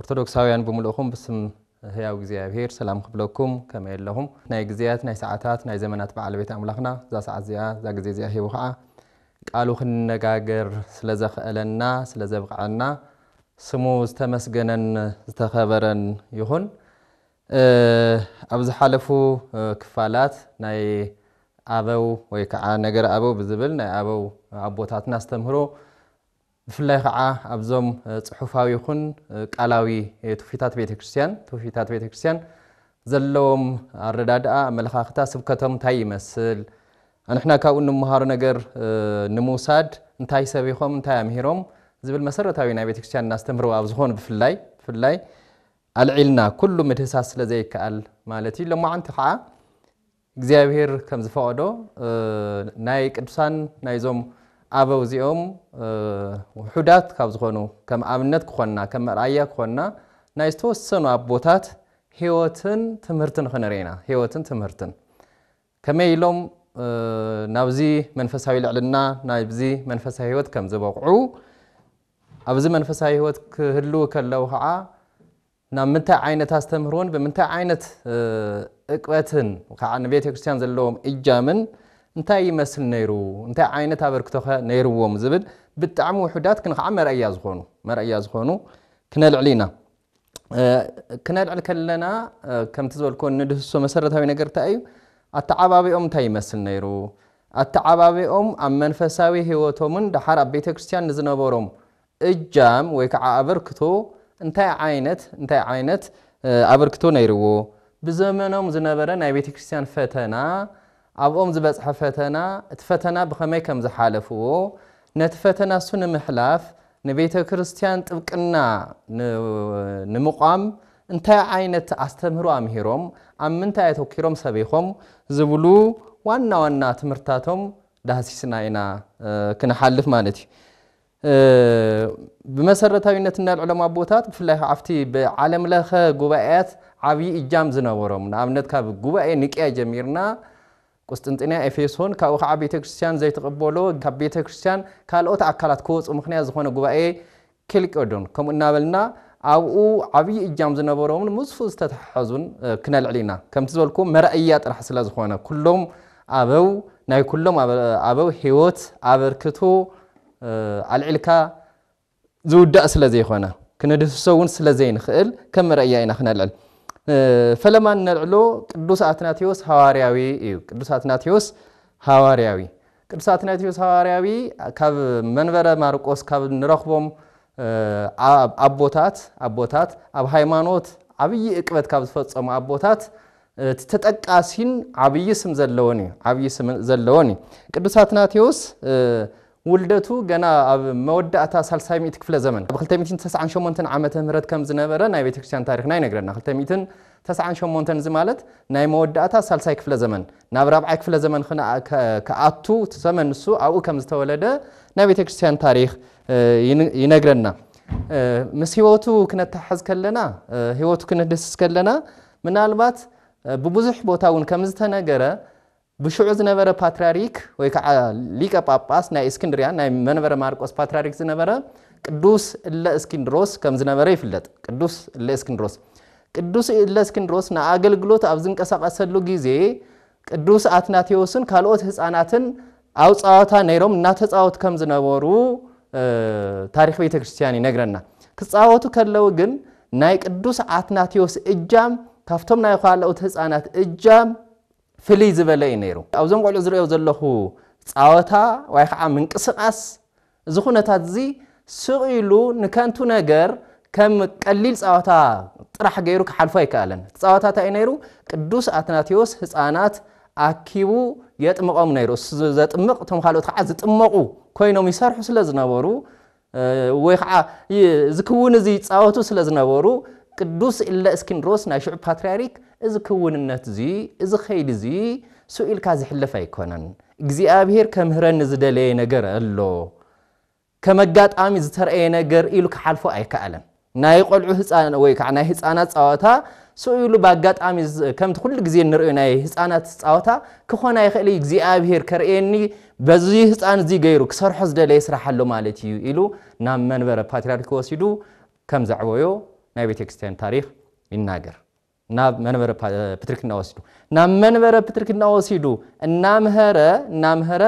ኦርቶዶክሳውያን ብምልእኹም ብስም ህያው እግዚኣብሄር ሰላም ክብለኩም ከመይ ኣለኹም ናይ ግዝያት ናይ ሰዓታት ናይ ዘመናት በዓል ቤት ኣምላኽና እዛ ሰዓት እዚኣ እዛ ግዜ እዚኣ ሂቡ ኸዓ ቃሉ ክንነጋገር ስለ ዘኽእለና ስለ ዘብቕዐና ስሙ ዝተመስገነን ዝተኸበረን ይኹን ኣብ ዝሓለፉ ክፋላት ናይ ኣበው ወይ ከዓ ነገረ ኣበው ብዝብል ናይ ኣበው ኣቦታትና ኣስተምህሮ ብፍላይ ኸዓ ኣብዞም ፅሑፋዊ ይኹን ቃላዊ ትውፊታት ቤተ ክርስቲያን፣ ትውፊታት ቤተ ክርስቲያን ዘለዎም ኣረዳድኣ፣ ኣመለኻኽታ፣ ስብከቶም እንታይ ይመስል፣ ኣንሕና ካብኡ እንመሃሮ ነገር ንምውሳድ እንታይ ሰቢኾም፣ እንታይ ኣምሂሮም ዝብል መሰረታዊ ናይ ቤተ ክርስቲያን ኣስተምህሮ ኣብ ዝኾኑ ብፍላይ ብፍላይ ኣልዒልና ኩሉ ምድህሳስ ስለ ዘይከኣል ማለት እዩ። ሎማዓንቲ ኸዓ እግዚኣብሄር ከም ዝፈቐዶ ናይ ቅዱሳን ናይዞም ኣበው እዚኦም ውሑዳት ካብ ዝኾኑ ከም ኣብነት ክኾንና ከም መርኣያ ክኾንና ናይ ዝተወሰኑ ኣቦታት ህይወትን ትምህርትን ክንርኢ ኢና ህይወትን ትምህርትን ከመይ ኢሎም ናብዚ መንፈሳዊ ልዕልና ናብዚ መንፈሳዊ ህይወት ከም ዝበቕዑ ኣብዚ መንፈሳዊ ህይወት ክህልው ከለው ከዓ ናብ ምንታይ ዓይነት ኣስተምህሮን ብምንታይ ዓይነት ዕቅበትን ከዓ ንቤተ ክርስቲያን ዘለዎም እጃምን እንታይ ይመስል ነይሩ፣ እንታይ ዓይነት ኣበርክቶኸ ነይርዎም ዝብል ብጣዕሚ ውሑዳት ግን ከዓ መርኣያ ዝኾኑ መርኣያ ዝኾኑ ክነልዕል ኢና። ክነልዕል ከለና ከምቲ ዝበልክዎ ንድህሶ መሰረታዊ ነገር እንታይ እዩ? ኣተዓባቢኦም እንታይ ይመስል ነይሩ? ኣተዓባቢኦም ኣብ መንፈሳዊ ህይወቶምን ደሓር ኣብ ቤተ ክርስቲያን ንዝነበሮም እጃም ወይ ከዓ ኣበርክቶ እንታይ ዓይነት እንታይ ዓይነት ኣበርክቶ ነይርዎ? ብዘመኖም ዝነበረ ናይ ቤተ ክርስቲያን ፈተና፣ ኣብኦም ዝበፅሐ ፈተና፣ እቲ ፈተና ብኸመይ ከም ዝሓለፍዎ፣ ነቲ ፈተና እሱ ንምሕላፍ ንቤተ ክርስቲያን ጥብቅና ንምቛም እንታይ ዓይነት ኣስተምህሮ ኣምሂሮም፣ ኣብ ምንታይ ኣተኲሮም ሰቢኾም ዝብሉ ዋና ዋና ትምህርትታቶም ዳህሲስና ኢና ክንሓልፍ ማለት እዩ። ብመሰረታዊነት እንዳ ልዕሎም ኣቦታት ብፍላይ ከዓ ኣብቲ ብዓለም ለኸ ጉባኤያት ዓብዪ እጃም ዝነበሮም ንኣብነት ካብ ጉባኤ ንቅያ ጀሚርና ቁስጥንጥንያ ኤፌሶን ካብኡ ከዓ ቤተ ክርስቲያን ዘይትቕበሎ ካብ ቤተ ክርስቲያን ካልኦት ኣካላት ክወፁ ምክንያት ዝኾነ ጉባኤ ኬልቄዶን ከምኡ እናበልና ኣብኡ ዓብዪ እጃም ዝነበሮምን ምስኡ ዝተተሓሓዙን ክነልዕል ኢና ከምቲ ዝበልኩ መርኣያ ጥራሕ ስለ ዝኾነ ኩሎም ኣበው ናይ ኩሎም ኣበው ህይወት ኣበርክቶ ኣልዒልካ ዝውዳእ ስለ ዘይኮነ ክነድህስሶ እውን ስለ ዘይንኽእል ከም መርኣያ ኢና ክነልዕል ፈለማ እነልዕሎ ቅዱስ ኣትናቴዎስ ሃዋርያዊ እዩ። ቅዱስ ኣትናቴዎስ ሃዋርያዊ ቅዱስ ኣትናቴዎስ ሃዋርያዊ ካብ መንበረ ማርቆስ ካብ ንረኽቦም ኣቦታት ኣቦታት ኣብ ሃይማኖት ዓብዪ እቅበት ካብ ዝፈፀሙ ኣቦታት እቲ ተጠቃሲን ዓብዪ ስም ዘለዎን እዩ ዓብዪ ስም ዘለዎን እዩ። ቅዱስ ኣትናቴዎስ ውልደቱ ገና ኣብ መወዳእታ ሳልሳይ ሚእቲ ክፍለ ዘመን ኣብ 298 ዓመተ ምህረት ከም ዝነበረ ናይ ቤተ ክርስቲያን ታሪኽና ይነግረና። 298 እዚ ማለት ናይ መወዳእታ ሳልሳይ ክፍለ ዘመን ናብ ራብዓይ ክፍለ ዘመን ክነኣ- ከ- ክኣቱ እቲ ዘመን ንሱ ኣብኡ ከም ዝተወለደ ናይ ቤተ ክርስቲያን ታሪኽ እ፣ ይን- ይነግረና። እ፣ ምስ ህይወቱ ክነተሓሕዝ ከለና እ፣ ህይወቱ ክንድህስስ ከለና ምናልባት ብብዙሕ ቦታ እውን ከም ዝተነገረ ብሽዑ ዝነበረ ፓትርያርክ ወይ ከዓ ሊቀ ጳጳስ ናይ እስክንድርያ ናይ መንበረ ማርቆስ ፓትርያርክ ዝነበረ ቅዱስ እለ እስኪንድሮስ ከም ዝነበረ ይፍለጥ። ቅዱስ እለ እስክንድሮስ ቅዱስ እለ እስክንድሮስ ንኣገልግሎት ኣብ ዝንቀሳቐሰሉ ግዜ ቅዱስ ኣትናቴዎስን ካልኦት ህፃናትን ኣብ ጸዋታ ነይሮም እናተጻወቱ ከም ዝነበሩ ታሪኽ ቤተ ክርስቲያን ይነግረና። ክጻወቱ ከለዉ ግን ናይ ቅዱስ ኣትናቴዎስ እጃም ካብቶም ናይ ኻልኦት ህፃናት እጃም ፍልይ ዝበለ እዩ ነይሩ። ኣብዞም ቆልዑ ዝሪኦ ዘለኹ ጻወታ ወይ ከዓ ምንቅስቓስ እዚ ኩነታት'ዚ ስቕ ኢሉ ንከንቱ ነገር ከም ቀሊል ጸወታ ጥራሕ ገይሩ ክሓልፎ ኣይከኣለን። እቲ ጸወታ እንታይ እዩ ነይሩ? ቅዱስ ኣትናቴዎስ ህጻናት ኣኪቡ የጥምቖም ነይሩ። እሱ ዘጥምቕ እቶም ካልኦት ከዓ ዝጥመቑ ኮይኖም ይሰርሑ ስለ ዝነበሩ ወይ ከዓ እዚ ክውን እዚ ይጻወቱ ስለ ዝነበሩ ቅዱስ እለ እስኪንድሮስ ናይ ሽዑ ፓትርያርክ እዚ ክውንነት እዚ እዚ ከይዲ እዚ ስኢልካ ዝሕለፍ ኣይኮነን። እግዚኣብሄር ከምህረኒ ዝደለየ ነገር ኣሎ ከም ኣጋጣሚ ዝተርኣየ ነገር ኢሉ ክሓልፎ ኣይከኣለን። ናይ ቆልዑ ህፃን ወይ ከዓ ናይ ህፃናት ፀዋታ ስኡ ኢሉ ብኣጋጣሚ ከምቲ ኩሉ ግዜ እንሪኦ ናይ ህፃናት ፀዋታ ክኾን ኣይኽእል እዩ እግዚኣብሄር ከርእየኒ በዚ ህፃን እዚ ገይሩ ክሰርሖ ዝደለየ ስራሕ ኣሎ ማለት እዩ ኢሉ ናብ መንበረ ፓትሪያርኪ ወሲዱ ከም ዘዕበዮ ናይ ቤተክርስቲያን ታሪክ ይናገር። ናብ መንበረ ፕትርክና ወሲዱ ናብ መንበረ ፕትርክና ወሲዱ እናምሀረ እናምሀረ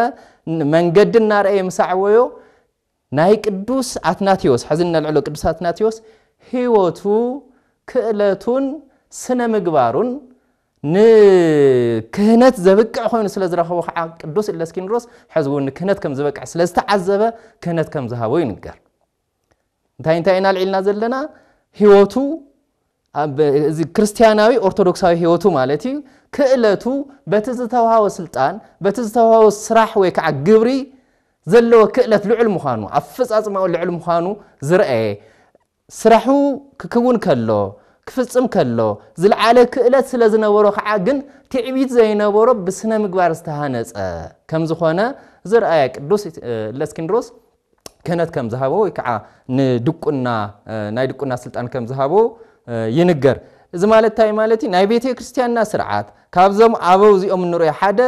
መንገዲ እናርኣየ ምስ ኣዕወዮ ናይ ቅዱስ ኣትናቴዎስ ሕዚ እነልዕሎ ቅዱስ ኣትናቴዎስ ህይወቱ ክእለቱን ስነ ምግባሩን ንክህነት ዘብቅዕ ኮይኑ ስለ ዝረኸቦ ከዓ ቅዱስ እለስኪንድሮስ ሕዚ እውን ንክህነት ከም ዝበቅዕ ስለ ዝተዓዘበ ክህነት ከም ዝሃቦ ይንገር። እንታይ እንታይ ኢና ኣልዒልና ዘለና ህይወቱ እዚ ክርስትያናዊ ኦርቶዶክሳዊ ህይወቱ ማለት እዩ ክእለቱ በቲ ዝተዋሃቦ ስልጣን በቲ ዝተዋሃቦ ስራሕ ወይ ከዓ ግብሪ ዘለዎ ክእለት ልዑል ምዃኑ ኣፈፃፅማኡ ልዑል ምዃኑ ዝረአየ ስራሑ ክክውን ከሎ ክፍፅም ከሎ ዝለዓለ ክእለት ስለ ዝነበሮ ከዓ ግን ትዕቢት ዘይነበሮ ብስነ ምግባር ዝተሃነፀ ከም ዝኾነ ዝረኣየ ቅዱስ ለስኪንድሮስ ክህነት ከም ዝሃቦ ወይ ከዓ ንድቁና ናይ ድቁና ስልጣን ከም ዝሃቦ ይንገር። እዚ ማለት እንታይ ማለት እዩ? ናይ ቤተ ክርስቲያንና ስርዓት ካብዞም ኣበው እዚኦም እንሪኦ ሓደ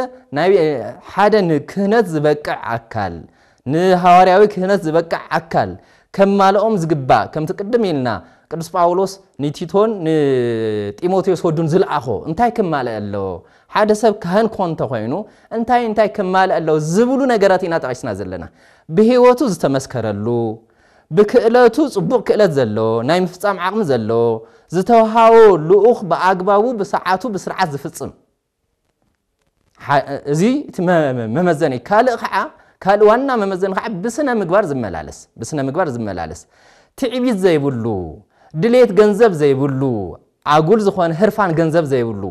ሓደ ንክህነት ዝበቅዕ ኣካል ንሃዋርያዊ ክህነት ዝበቅዕ ኣካል ከማልኦም ዝግባእ ከምቲ ቅድም ኢልና ቅዱስ ጳውሎስ ንቲቶን ንጢሞቴዎስ ወዱን ዝልኣኾ እንታይ ክማልእ ኣለዎ? ሓደ ሰብ ካህን ክኾን እንተ ኾይኑ እንታይ እንታይ ክማልእ ኣለዎ ዝብሉ ነገራት ኢና ጠቒስና ዘለና። ብህይወቱ ዝተመስከረሉ፣ ብክእለቱ ጽቡቕ ክእለት ዘለዎ፣ ናይ ምፍጻም ዓቕሚ ዘለዎ፣ ዝተውሃቦ ልኡኽ ብኣግባቡ ብሰዓቱ ብስርዓት ዝፍጽም እዚ እቲ መመዘኒ እዩ። ካልእ ከዓ ካልእ ዋና መመዘኒ ከዓ ብስነ ምግባር ዝመላለስ ብስነ ምግባር ዝመላለስ ትዕቢት ዘይብሉ ድሌት ገንዘብ ዘይብሉ ኣጉል ዝኾነ ህርፋን ገንዘብ ዘይብሉ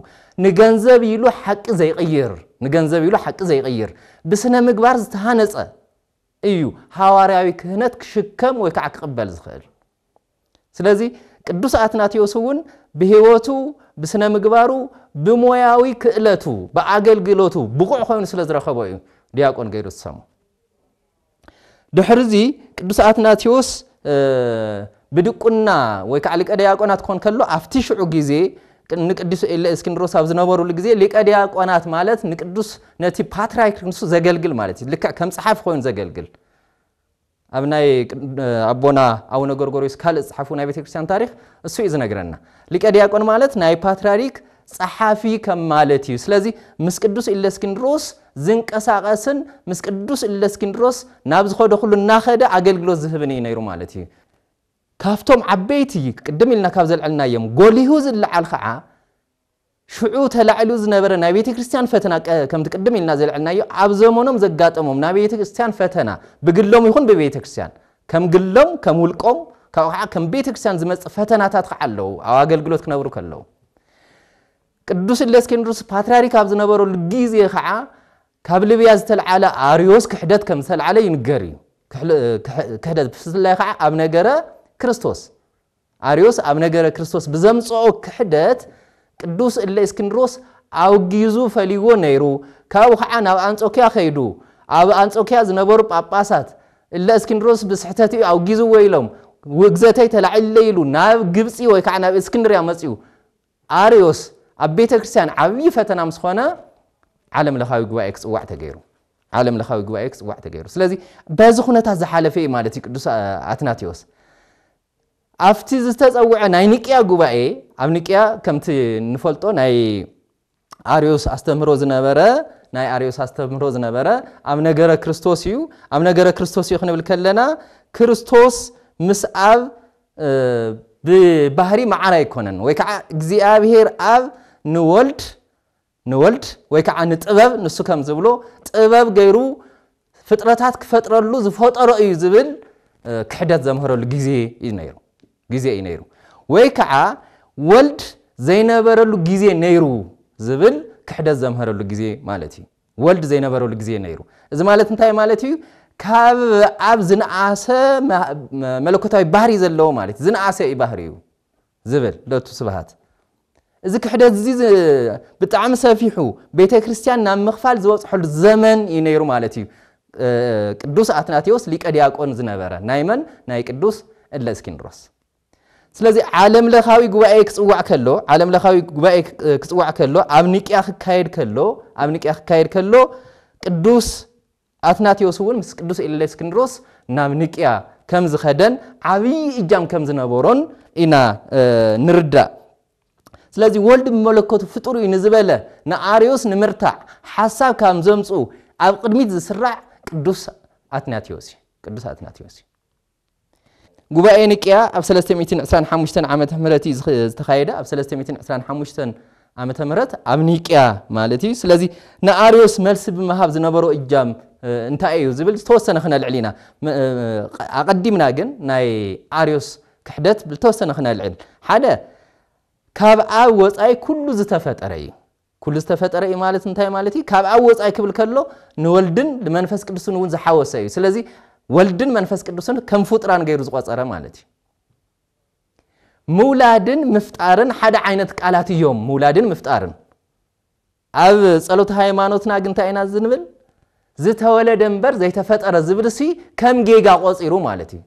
ንገንዘብ ኢሉ ሓቂ ዘይቕይር ንገንዘብ ኢሉ ሓቂ ዘይቕይር ብስነ ምግባር ዝተሃነጸ እዩ ሃዋርያዊ ክህነት ክሽከም ወይ ከዓ ክቕበል ዝኽእል ስለዚ ቅዱስ ኣትናቴዎስ እውን ብህይወቱ ብስነ ምግባሩ ብሞያዊ ክእለቱ ብኣገልግሎቱ ብቑዕ ኮይኑ ስለ ዝረኸቦ እዩ ዲያቆን ገይሩ ዝሰሙ ድሕርዚ ቅዱስ ኣትናቴዎስ ብድቁና ወይ ከዓ ሊቀ ዲያቆናት ክኾን ከሎ ኣብቲ ሽዑ ግዜ ንቅዱስ እስክንድሮስ ኣብ ዝነበሩሉ ግዜ ሊቀ ዲያቆናት ማለት ንቅዱስ ነቲ ፓትርያርክ ንሱ ዘገልግል ማለት እዩ ልክዕ ከም ፀሓፊ ኮይኑ ዘገልግል ኣብ ናይ ኣቦና ኣቡነ ጎርጎርዮስ ካልእ ዝፅሓፉ ናይ ቤተክርስትያን ታሪክ እሱ እዩ ዝነግረና ሊቀ ዲያቆን ማለት ናይ ፓትርያርክ ጸሓፊ ከም ማለት እዩ። ስለዚ ምስ ቅዱስ እለስክንድሮስ ዝንቀሳቐስን ምስ ቅዱስ እለስክንድሮስ ናብ ዝኸዶ ኩሉ እናኸደ ኣገልግሎት ዝህብን እዩ ነይሩ ማለት እዩ። ካብቶም ዓበይቲ ቅድም ኢልና ካብ ዘልዐልናዮም ጎሊሁ ዝለዓል ከዓ ሽዑ ተላዒሉ ዝነበረ ናይ ቤተ ክርስቲያን ፈተና ከምቲ ቅድም ኢልና ዘልዐልናዮ ኣብ ዘመኖም ዘጋጠሞም ናይ ቤተ ክርስቲያን ፈተና ብግሎም ይኹን ብቤተ ክርስቲያን ከም ግሎም ከም ውልቆም ካብኡ ከዓ ከም ቤተ ክርስቲያን ዝመጽእ ፈተናታት ከዓ ኣለዉ ኣብ ኣገልግሎት ክነብሩ ከለዉ ቅዱስ እሌስኪንድሮስ ፓትርያርክ ኣብ ዝነበረሉ ግዜ ኸዓ ካብ ልብያ ዝተልዓለ ኣርዮስ ክሕደት ከም ዝተልዓለ ይንገር እዩ። ክሕደት ብፍላይ ኸዓ ኣብ ነገረ ክርስቶስ ኣርዮስ ኣብ ነገረ ክርስቶስ ብዘምጽኦ ክሕደት ቅዱስ እሌስኪንድሮስ ኣውጊዙ ፈሊዎ ነይሩ። ካብኡ ኸዓ ናብ ኣንጾኪያ ከይዱ ኣብ ኣንጾኪያ ዝነበሩ ጳጳሳት እለ እስክንድሮስ ብስሕተት'ዩ ኣውጊዝዎ ኢሎም ውግዘተይ ተላዒሉለይ ኢሉ ናብ ግብጺ ወይ ከዓ ናብ እስክንድርያ መጺኡ ኣርዮስ ኣብ ቤተ ክርስቲያን ዓብዪ ፈተና ምስ ኾነ ዓለም ለኻዊ ጉባኤ ክጽዋዕ ተገይሩ ዓለም ለኻዊ ጉባኤ ክጽዋዕ ተገይሩ ስለዚ በዚ ኩነታት ዝሓለፈ እዩ ማለት እዩ ቅዱስ ኣትናቴዎስ ኣብቲ ዝተፀውዐ ናይ ንቅያ ጉባኤ ኣብ ንቅያ ከምቲ ንፈልጦ ናይ ኣርዮስ ኣስተምህሮ ዝነበረ ናይ ኣርዮስ ኣስተምህሮ ዝነበረ ኣብ ነገረ ክርስቶስ እዩ ኣብ ነገረ ክርስቶስ እዩ ክንብል ከለና ክርስቶስ ምስ ኣብ ብባህሪ መዓር ኣይኮነን ወይ ከዓ እግዚኣብሄር ኣብ ንወልድ ንወልድ ወይ ከዓ ንጥበብ ንሱ ከም ዝብሎ ጥበብ ገይሩ ፍጥረታት ክፈጥረሉ ዝፈጠሮ እዩ ዝብል ክሕደት ዘምህረሉ ግዜ እዩ ነይሩ ግዜ እዩ ነይሩ ወይ ከዓ ወልድ ዘይነበረሉ ግዜ ነይሩ ዝብል ክሕደት ዘምህረሉ ግዜ ማለት እዩ ወልድ ዘይነበረሉ ግዜ ነይሩ እዚ ማለት እንታይ ማለት እዩ ካብ ኣብ ዝነኣሰ መለኮታዊ ባህሪ ዘለዎ ማለት ዝነኣሰ እዩ ባህሪ እዩ ዝብል ለቱ ስብሃት እዚ ክሕደት እዚ ብጣዕሚ ሰፊሑ ቤተ ክርስቲያን ናብ ምኽፋል ዝበፅሐሉ ዘመን እዩ ነይሩ ማለት እዩ። ቅዱስ ኣትናቴዎስ ሊቀ ዲያቆን ዝነበረ ናይ መን ናይ ቅዱስ እለ እስኪንድሮስ ስለዚ ዓለም ለኻዊ ጉባኤ ክጽዋዕ ከሎ ዓለም ለኻዊ ጉባኤ ክጽዋዕ ከሎ ኣብ ኒቅያ ክካየድ ከሎ ኣብ ኒቅያ ክካየድ ከሎ ቅዱስ ኣትናቴዎስ እውን ምስ ቅዱስ እሌስክንድሮስ ናብ ንቅያ ከም ዝኸደን ዓብዪ እጃም ከም ዝነበሮን ኢና ንርዳእ። ስለዚ ወልድ ብመለኮቱ ፍጡር እዩ ንዝበለ ንኣርዮስ ንምርታዕ ሓሳብ ካብ ዘምጽኡ ኣብ ቅድሚት ዝስራዕ ቅዱስ ኣትናቴዎስ እዩ። ቅዱስ ኣትናቴዎስ እዩ። ጉባኤ ንቅያ ኣብ ሰለስተ ሚእትን ዕስራን ሓሙሽተን ዓመተ ምህረት እዩ ዝተኻየደ ኣብ ሰለስተ ሚእትን ዕስራን ሓሙሽተን ዓመተ ምህረት ኣብ ኒቅያ ማለት እዩ ስለዚ ንኣርዮስ መልሲ ብምሃብ ዝነበሮ እጃም እንታይ እዩ ዝብል ዝተወሰነ ክነልዕል ኢና ኣቐዲምና ግን ናይ ኣርዮስ ክሕደት ብተወሰነ ክነልዕል ሓደ ካብ ኣብ ወፃኢ ኩሉ ዝተፈጠረ እዩ ኩሉ ዝተፈጠረ እዩ ማለት እንታይ ማለት እዩ? ካብ ኣብ ወጻኢ ክብል ከሎ ንወልድን ንመንፈስ ቅዱስን እውን ዝሓወሰ እዩ። ስለዚ ወልድን መንፈስ ቅዱስን ከም ፍጡራን ገይሩ ዝቆጸረ ማለት እዩ። ምውላድን ምፍጣርን ሓደ ዓይነት ቃላት እዮም። ምውላድን ምፍጣርን ኣብ ጸሎት ሃይማኖትና ግን እንታይ ኢና ዝንብል? ዝተወለደ እምበር ዘይተፈጠረ ዝብልሲ ከም ጌጋ ቆጺሩ ማለት እዩ።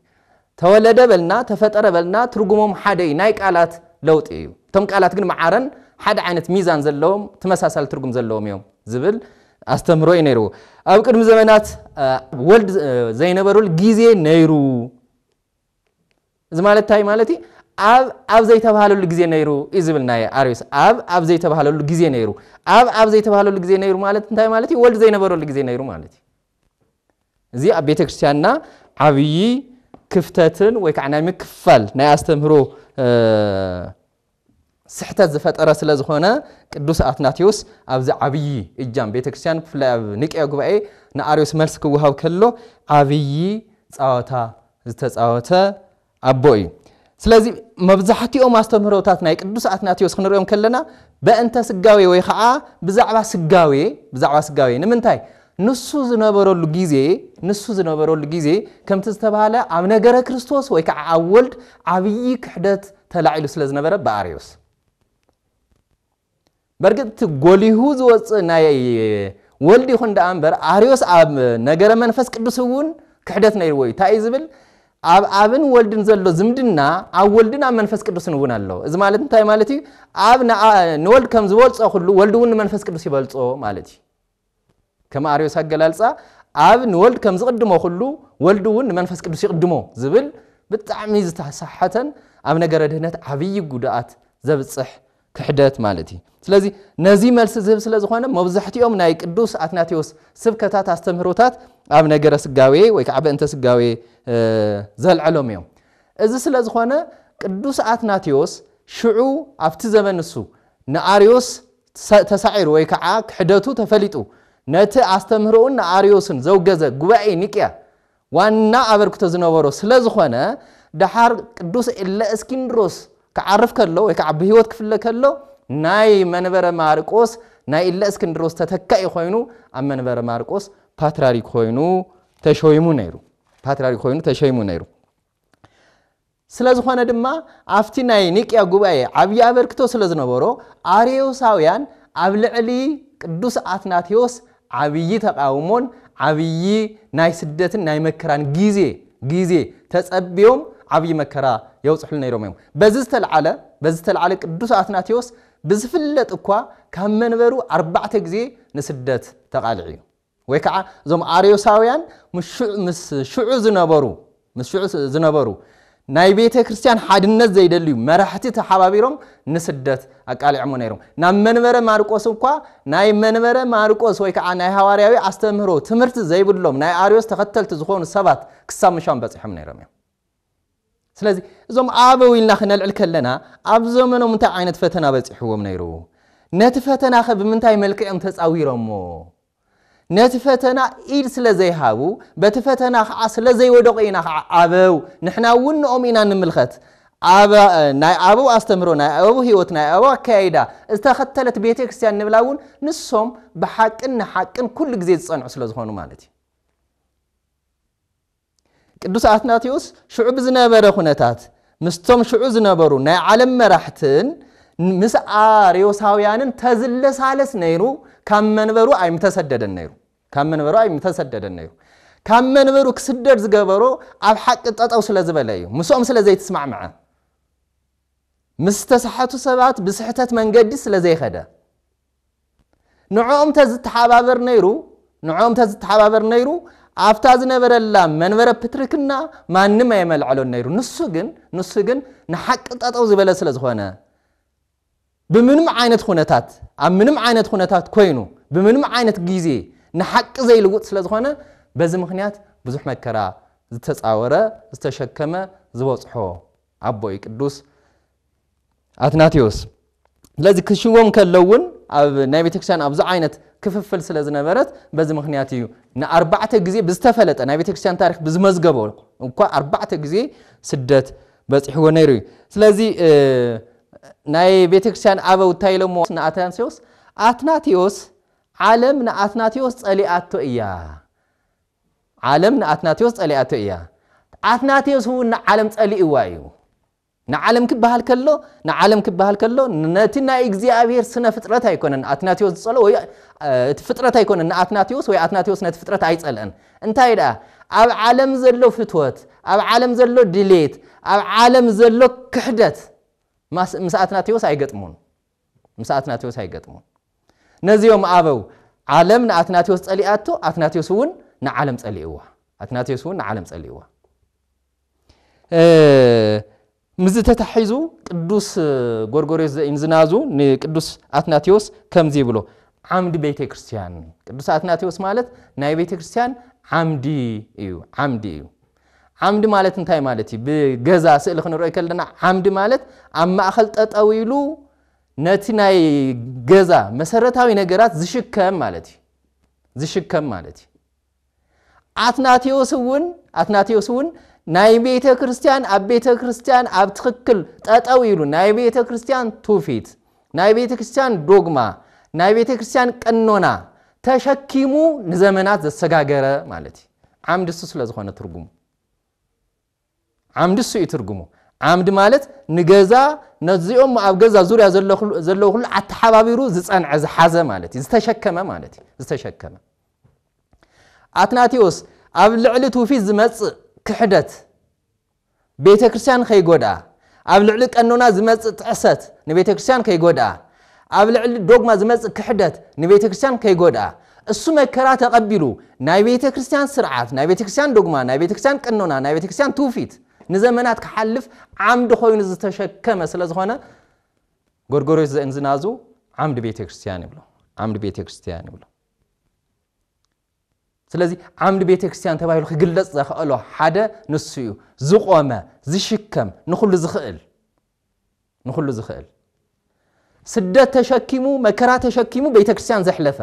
ተወለደ በልና ተፈጠረ በልና ትርጉሞም ሓደ እዩ ናይ ቃላት ለውጢ እዩ። እቶም ቃላት ግን መዓረን ሓደ ዓይነት ሚዛን ዘለዎም ተመሳሳሊ ትርጉም ዘለዎም እዮም ዝብል ኣስተምህሮ እዩ ነይርዎ። ኣብ ቅድሚ ዘመናት ወልድ ዘይነበሩሉ ግዜ ነይሩ እዚ ማለት እንታይ ማለት እዩ? ኣብ ኣብ ዘይተባህለሉ ግዜ ነይሩ እዩ ዝብል ናይ ኣርዮስ ኣብ ኣብ ዘይተባህለሉ ግዜ ነይሩ ኣብ ኣብ ዘይተባህለሉ ግዜ ነይሩ ማለት እንታይ ማለት እዩ? ወልድ ዘይነበረሉ ግዜ ነይሩ ማለት እዩ። እዚ ኣብ ቤተ ክርስቲያንና ዓብዪ ክፍተትን ወይ ከዓ ናይ ምክፍፋል ናይ ኣስተምህሮ ስሕተት ዝፈጠረ ስለ ዝኾነ ቅዱስ ኣትናቴዎስ ኣብዚ ዓብዪ እጃም ቤተ ክርስቲያን ብፍላይ ኣብ ኒቅያ ጉባኤ ንኣርዮስ መልሲ ክወሃብ ከሎ ዓብዪ ጻወታ ዝተጻወተ ኣቦ እዩ። ስለዚ መብዛሕትኦም ኣስተምህሮታት ናይ ቅዱስ ኣትናቴዎስ ክንሪኦም ከለና በእንተ ስጋዌ ወይ ከዓ ብዛዕባ ስጋዌ ብዛዕባ ስጋዌ ንምንታይ ንሱ ዝነበረሉ ግዜ ንሱ ዝነበረሉ ግዜ ከምቲ ዝተባህለ ኣብ ነገረ ክርስቶስ ወይ ከዓ ኣብ ወልድ ዓብዪ ክሕደት ተላዒሉ ስለ ዝነበረ ብኣርዮስ በርግጥ እቲ ጎሊሁ ዝወፅእ ናይ ወልድ ይኹን ደኣ እምበር ኣርዮስ ኣብ ነገረ መንፈስ ቅዱስ እውን ክሕደት ነይርዎ እዩ እንታይ እዩ ዝብል ኣብ ኣብን ወልድን ዘሎ ዝምድና ኣብ ወልድን ኣብ መንፈስ ቅዱስን እውን ኣሎ እዚ ማለት እንታይ ማለት እዩ ኣብ ንወልድ ከም ዝበልፆ ኩሉ ወልድ እውን ንመንፈስ ቅዱስ ይበልፆ ማለት እዩ ከም ኣርዮስ ኣገላልጻ ኣብ ንወልድ ከም ዝቕድሞ ኩሉ ወልድ እውን ንመንፈስ ቅዱስ ይቕድሞ ዝብል ብጣዕሚ ዝተሰሓተን ኣብ ነገረ ድህነት ዓብዪ ጉድኣት ዘብጽሕ ክሕደት ማለት እዩ። ስለዚ ነዚ መልሲ ዝህብ ስለ ዝኾነ መብዛሕትኦም ናይ ቅዱስ ኣትናቴዎስ ስብከታት ኣስተምህሮታት ኣብ ነገረ ስጋዌ ወይ ከዓ በእንተ ስጋዌ ዘልዐሎም እዮም። እዚ ስለ ዝኾነ ቅዱስ ኣትናቴዎስ ሽዑ ኣብቲ ዘመን ንሱ ንኣርዮስ ተሳዒሩ ወይ ከዓ ክሕደቱ ተፈሊጡ ነቲ ኣስተምህሮኡን ንኣርዮስን ዘውገዘ ጉባኤ ኒቅያ ዋና ኣበርክቶ ዝነበሮ ስለዝኾነ ደሓር ቅዱስ እለእስኪንድሮስ ክዓርፍ ከሎ ወይ ከዓ ብህይወት ክፍለ ከሎ ናይ መንበረ ማርቆስ ናይ እለእስክንድሮስ ተተካኢ ኮይኑ ኣብ መንበረ ማርቆስ ፓትራሪክ ኮይኑ ተሾይሙ ነይሩ ፓትራሪክ ኮይኑ ተሾይሙ ነይሩ። ስለ ዝኾነ ድማ ኣብቲ ናይ ኒቅያ ጉባኤ ዓብዪ ኣበርክቶ ስለ ዝነበሮ ኣርዮሳውያን ኣብ ልዕሊ ቅዱስ ኣትናቴዎስ ዓብዪ ተቓውሞን ዓብዪ ናይ ስደትን ናይ መከራን ግዜ ግዜ ተጸብዮም ዓብዪ መከራ የውጽሕሉ ነይሮም እዮም በዚ ዝተልዓለ በዚ ዝተልዓለ ቅዱስ ኣትናቴዎስ ብዝፍለጥ እኳ ካብ መንበሩ ኣርባዕተ ግዜ ንስደት ተቓልዕ እዩ ወይ ከዓ እዞም ኣርዮሳውያን ምስ ሽዑ ዝነበሩ ምስ ሽዑ ዝነበሩ ናይ ቤተ ክርስቲያን ሓድነት ዘይደልዩ መራሕቲ ተሓባቢሮም ንስደት ኣቃሊዕሞ ነይሮም ናብ መንበረ ማርቆስ እኳ ናይ መንበረ ማርቆስ ወይ ከዓ ናይ ሃዋርያዊ ኣስተምህሮ ትምህርቲ ዘይብሎም ናይ ኣርዮስ ተኸተልቲ ዝኾኑ ሰባት ክሳብ ምሻም በፂሖም ነይሮም እዮም ስለዚ እዞም ኣበው ኢልና ክነልዕል ከለና ኣብ ዘመኖም እንታይ ዓይነት ፈተና በፂሕዎም ነይሩ ነቲ ፈተና ኸ ብምንታይ መልክዕ እዮም ተፃዊሮሞ ነቲ ፈተና ኢድ ስለ ዘይሃቡ በቲ ፈተና ከዓ ስለ ዘይወደቑ ኢና ከዓ ኣበው ንሕና እውን ንኦም ኢና ንምልኸት ናይ ኣበው ኣስተምህሮ ናይ ኣበው ህይወት ናይ ኣበው ኣካያይዳ ዝተኸተለት ቤተ ክርስትያን ንብላ እውን ንሶም ብሓቅን ንሓቅን ኩሉ ግዜ ዝፀንዑ ስለ ዝኾኑ ማለት እዩ ቅዱስ ኣትናቴዎስ ሽዑ ብዝነበረ ኩነታት ምስቶም ሽዑ ዝነበሩ ናይ ዓለም መራሕትን ምስ ኣርዮሳውያንን ተዝለሳለስ ነይሩ ካብ መንበሩ ኣይምተሰደደን ነይሩ ካብ መንበሩ ኣይምተሰደደን ነይሩ ካብ መንበሩ ክስደድ ዝገበሮ ኣብ ሓቂ ጠጠው ስለ ዝበለ እዩ ምስኦም ስለ ዘይትስማዕምዐ ምስ ተሳሐቱ ሰባት ብስሕተት መንገዲ ስለ ዘይኸደ ንዕኦም እንተ ዝተሓባበር ነይሩ ንዕኦም እንተ ዝተሓባበር ነይሩ ኣብታ ዝነበረላ መንበረ ፕትርክና ማንም ኣየመልዐሎን ነይሩ። ንሱ ግን ንሱ ግን ንሓቂ ጠጠው ዝበለ ስለ ዝኾነ ብምንም ዓይነት ኩነታት ኣብ ምንም ዓይነት ኩነታት ኮይኑ ብምንም ዓይነት ግዜ ንሓቂ ዘይልውጥ ስለ ዝኾነ በዚ ምክንያት ብዙሕ መከራ ዝተፃወረ ዝተሸከመ ዝበፅሖ ኣቦ እዩ ቅዱስ ኣትናቴዎስ ስለዚ ክሽዎም ከለው እውን ኣብ ናይ ቤተክርስትያን ኣብዚ ዓይነት ክፍፍል ስለ ዝነበረት በዚ ምክንያት እዩ ንኣርባዕተ ግዜ ብዝተፈለጠ ናይ ቤተክርስትያን ታሪክ ብዝመዝገቦ እኳ ኣርባዕተ ግዜ ስደት በፂሕዎ ነይሩ እዩ ስለዚ ናይ ቤተክርስትያን ኣበው እንታይ ኢሎሞ ንኣትናቴዎስ ኣትናቴዎስ ዓለም ንኣትናቴዎስ ፀሊኣቶ እያ ዓለም ንኣትናቴዎስ ጸሊኣቶ እያ፣ ኣትናቴዎስ እውን ንዓለም ጸሊእዋ እዩ። ንዓለም ክበሃል ከሎ ንዓለም ክበሃል ከሎ ነቲ ናይ እግዚኣብሔር ስነ ፍጥረት ኣይኮነን ኣትናቴዎስ ዝጸልኦ ወይ እቲ ፍጥረት ኣይኮነን ንኣትናቴዎስ ወይ ኣትናቴዎስ ነቲ ፍጥረት ኣይጸልአን እንታይ ደኣ ኣብ ዓለም ዘሎ ፍትወት ኣብ ዓለም ዘሎ ድሌት ኣብ ዓለም ዘሎ ክሕደት ምስ ኣትናቴዎስ ኣይገጥሙን ምስ ኣትናቴዎስ ኣይገጥሙን። ነዚኦም ኣበው ዓለም ንኣትናቴዎስ ጸሊኣቶ፣ ኣትናቴዎስ እውን ንዓለም ጸሊእዋ። ኣትናቴዎስ እውን ንዓለም ጸሊእዋ። ምስዚ ተታሒዙ ቅዱስ ጎርጎርዮስ ዘኢንዝናዙ ንቅዱስ ኣትናቴዎስ ከምዚ ይብሎ፣ ዓምዲ ቤተ ክርስቲያን። ቅዱስ ኣትናቴዎስ ማለት ናይ ቤተ ክርስቲያን ዓምዲ እዩ፣ ዓምዲ እዩ። ዓምዲ ማለት እንታይ ማለት እዩ? ብገዛ ስእሊ ክንሪኦ ከለና ዓምዲ ማለት ኣብ ማእኸል ጠጠው ኢሉ ነቲ ናይ ገዛ መሰረታዊ ነገራት ዝሽከም ማለት እዩ ዝሽከም ማለት እዩ ኣትናቴዎስ እውን ኣትናቴዎስ እውን ናይ ቤተ ክርስቲያን ኣብ ቤተ ክርስቲያን ኣብ ትኽክል ጠጠው ኢሉ ናይ ቤተ ክርስቲያን ትውፊት ናይ ቤተ ክርስቲያን ዶግማ ናይ ቤተ ክርስቲያን ቀኖና ተሸኪሙ ንዘመናት ዘሰጋገረ ማለት እዩ ዓምዲ እሱ ስለ ዝኾነ ትርጉሙ ዓምዲ እሱ እዩ ትርጉሙ ዓምዲ ማለት ንገዛ ነዚኦም ኣብ ገዛ ዙርያ ዘለዉ ኩሉ ኣተሓባቢሩ ዝፀንዐ ዝሓዘ ማለት እዩ ዝተሸከመ ማለት እዩ ዝተሸከመ ኣትናቴዎስ ኣብ ልዕሊ ትውፊት ዝመፅእ ክሕደት ቤተክርስቲያን ከይጎድኣ፣ ኣብ ልዕሊ ቀኖና ዝመጽእ ጥሕሰት ንቤተክርስቲያን ከይጎድኣ፣ ኣብ ልዕሊ ዶግማ ዝመጽእ ክሕደት ንቤተክርስቲያን ከይጎድኣ፣ እሱ መከራ ተቐቢሉ ናይ ቤተክርስቲያን ስርዓት፣ ናይ ቤተክርስቲያን ዶግማ፣ ናይ ቤተክርስቲያን ቀኖና፣ ናይ ቤተክርስቲያን ትውፊት ንዘመናት ክሓልፍ ዓምዲ ኮይኑ ዝተሸከመ ስለዝኾነ ጎርጎርዮስ ዘእንዝናዙ ዓምዲ ቤተክርስቲያን ይብሎ። ዓምዲ ቤተክርስቲያን ይብሎ። ስለዚ ዓምዲ ቤተ ክርስቲያን ተባሂሉ ክግለጽ ዘኸእሎ ሓደ ንሱ እዩ ዝቆመ ዝሽከም ንኹሉ ዝኽእል ንኹሉ ዝኽእል ስደት ተሸኪሙ መከራ ተሸኪሙ ቤተ ክርስቲያን ዘሕለፈ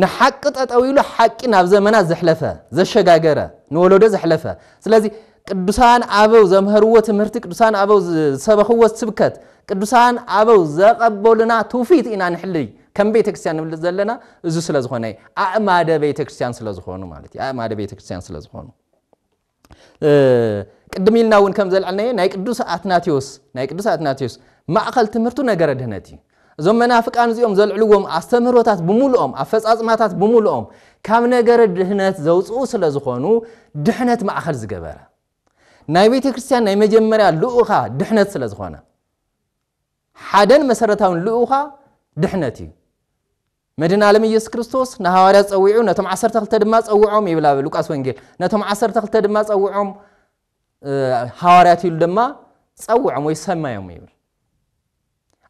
ንሓቂ ጠጠው ኢሉ ሓቂ ናብ ዘመናት ዘሕለፈ ዘሸጋገረ ንወለዶ ዘሕለፈ ስለዚ ቅዱሳን ኣበው ዘምሀርዎ ትምህርቲ ቅዱሳን ኣበው ዝሰበኽዎ ስብከት ቅዱሳን ኣበው ዘቐበሉና ትውፊት ኢና ንሕልይ ከም ቤተ ክርስቲያን ንብልፅ ዘለና እዚ ስለ ዝኾነ እዩ ኣእማደ ቤተ ክርስቲያን ስለ ዝኾኑ ማለት እዩ ኣእማደ ቤተ ክርስቲያን ስለ ዝኾኑ ቅድም ኢልና እውን ከም ዘልዐልናዮ ናይ ቅዱስ ኣትናቴዎስ ናይ ቅዱስ ኣትናቴዎስ ማእኸል ትምህርቱ ነገረ ድህነት እዩ እዞም መናፍቃን እዚኦም ዘልዕልዎም ኣስተምህሮታት ብምሉኦም ኣፈጻጽማታት ብምሉኦም ካብ ነገረ ድህነት ዘውጽኡ ስለ ዝኾኑ ድሕነት ማእከል ዝገበረ ናይ ቤተ ክርስቲያን ናይ መጀመርያ ልኡኻ ድሕነት ስለ ዝኾነ ሓደን መሰረታውን ልኡኻ ድሕነት እዩ መድን ዓለም ኢየሱስ ክርስቶስ ንሃዋርያት ጸዊዑ ነቶም ዓሰርተ ክልተ ድማ ጸውዖም ይብል ኣብ ሉቃስ ወንጌል ነቶም ዓሰርተ ክልተ ድማ ጸውዖም ሃዋርያት ኢሉ ድማ ጸውዖም ወይ ሰመዮም ይብል።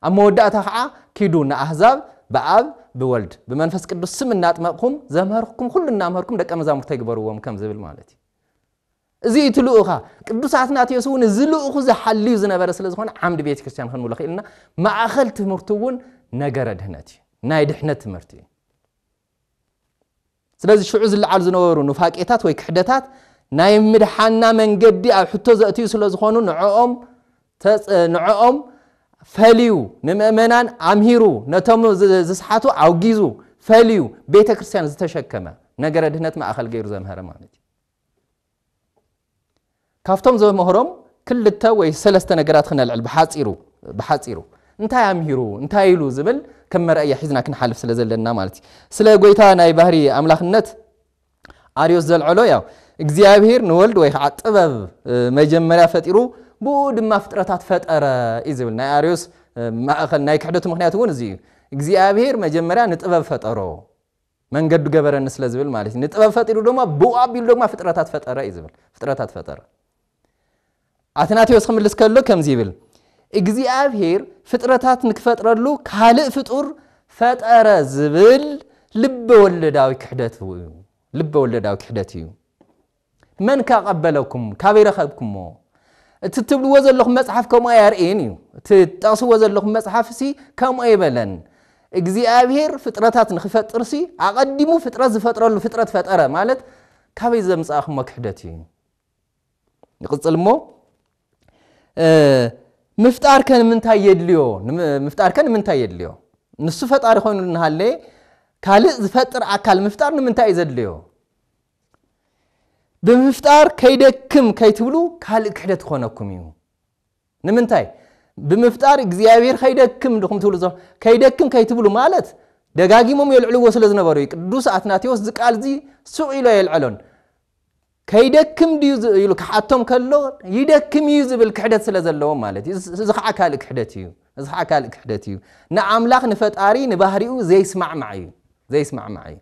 ኣብ መወዳእታ ከዓ ኪዱ ንኣህዛብ ብኣብ ብወልድ ብመንፈስ ቅዱስ ስም እናጥመቕኩም ዘምህርኩም ኩሉ እናምህርኩም ደቀ መዛሙርተይ ግበርዎም ከም ዝብል ማለት እዩ። እዚ እዩ እቲ ልኡኻ ቅዱስ ኣትናቴዎስ እውን እዚ ልኡኹ ዝሓልዩ ዝነበረ ስለ ዝኾነ ዓምዲ ቤተ ክርስቲያን ክንብሎ ክኢልና ማእኸል ትምህርቱ እውን ነገረ ድህነት እዩ ናይ ድሕነት ትምህርቲ እዩ ስለዚ ሽዑ ዝለዓሉ ዝነበሩ ኑፋቄታት ወይ ክሕደታት ናይ ምድሓንና መንገዲ ኣብ ሕቶ ዘእትዩ ስለ ዝኾኑ ንዕኦም ንዕኦም ፈልዩ ንምእመናን ኣምሂሩ ነቶም ዝስሓቱ ኣውጊዙ ፈልዩ ቤተ ክርስቲያን ዝተሸከመ ነገረ ድህነት ማእኸል ገይሩ ዘምሀረ ማለት እዩ። ካብቶም ዘምህሮም ክልተ ወይ ሰለስተ ነገራት ክነልዕል ብሓፂሩ ብሓፂሩ እንታይ ኣምሂሩ እንታይ ኢሉ ዝብል ከም መርኣያ ሒዝና ክንሓልፍ ስለ ዘለና ማለት እዩ ስለ ጎይታ ናይ ባህሪ ኣምላኽነት ኣርዮስ ዘልዐሎ ያው እግዚኣብሄር ንወልድ ወይ ከዓ ጥበብ መጀመርያ ፈጢሩ ብኡ ድማ ፍጥረታት ፈጠረ እዩ ዝብል ናይ ኣርዮስ ማእኸል ናይ ክሕደቱ ምክንያት እውን እዚ እዩ እግዚኣብሄር መጀመርያ ንጥበብ ፈጠሮ መንገዱ ገበረኒ ስለ ዝብል ማለት እዩ። ንጥበብ ፈጢሩ ድማ ብኡ ኣቢሉ ድማ ፍጥረታት ፈጠረ እዩ ዝብል። ፍጥረታት ፈጠረ። ኣትናቴዎስ ክምልስ ከሎ ከምዚ ይብል እግዚኣብሔር ፍጥረታት ንክፈጥረሉ ካልእ ፍጡር ፈጠረ ዝብል ልበ ወለዳዊ ክሕደት እዩ። ልበ ወለዳዊ ክሕደት እዩ። መን ከ ኣቐበለኩም? ካበይ ረኸብኩሞ? እቲ እትብልዎ ዘለኹም መጽሓፍ ከምኡ ኣየርእይን እዩ። እቲ እትጠቕስዎ ዘለኹም መጽሓፍሲ ከምኡ ኣይበለን። እግዚኣብሄር ፍጥረታት ንኽፈጥርሲ ኣቐዲሙ ፍጥረት ዝፈጥረሉ ፍጥረት ፈጠረ ማለት ካበይ ዘምጻእኹሞ ክሕደት እዩ። ንቕጽል እሞ ምፍጣር ከ ንምንታይ የድልዮ? ምፍጣር ከ ንምንታይ የድልዮ? ንሱ ፈጣሪ ኮይኑ እናሃለየ ካልእ ዝፈጥር ኣካል ምፍጣር ንምንታይ እዩ ዘድልዮ? ብምፍጣር ከይደክም ከይትብሉ ካልእ ክሕደት ክኾነኩም እዩ ንምንታይ ብምፍጣር እግዚኣብሔር ከይደክም ድኹም ትብሉ ዘሎ ከይደክም ከይትብሉ ማለት ደጋጊሞም የልዕልዎ ስለ ዝነበሩ እዩ ቅዱስ ኣትናቴዎስ እዚ ቃል እዚ ሱቕ ኢሎ የልዐሎን ከይደክም ድዩ ኢሉ ክሓቶም ከሎ ይደክም እዩ ዝብል ክሕደት ስለ ዘለዎም ማለት እዩ እዚ ከዓ ካልእ ክሕደት እዩ እዚ ከዓ ካልእ ክሕደት እዩ ንኣምላኽ ንፈጣሪ ንባህሪኡ ዘይስማዕማዕ እዩ ዘይስማዕማዕ እዩ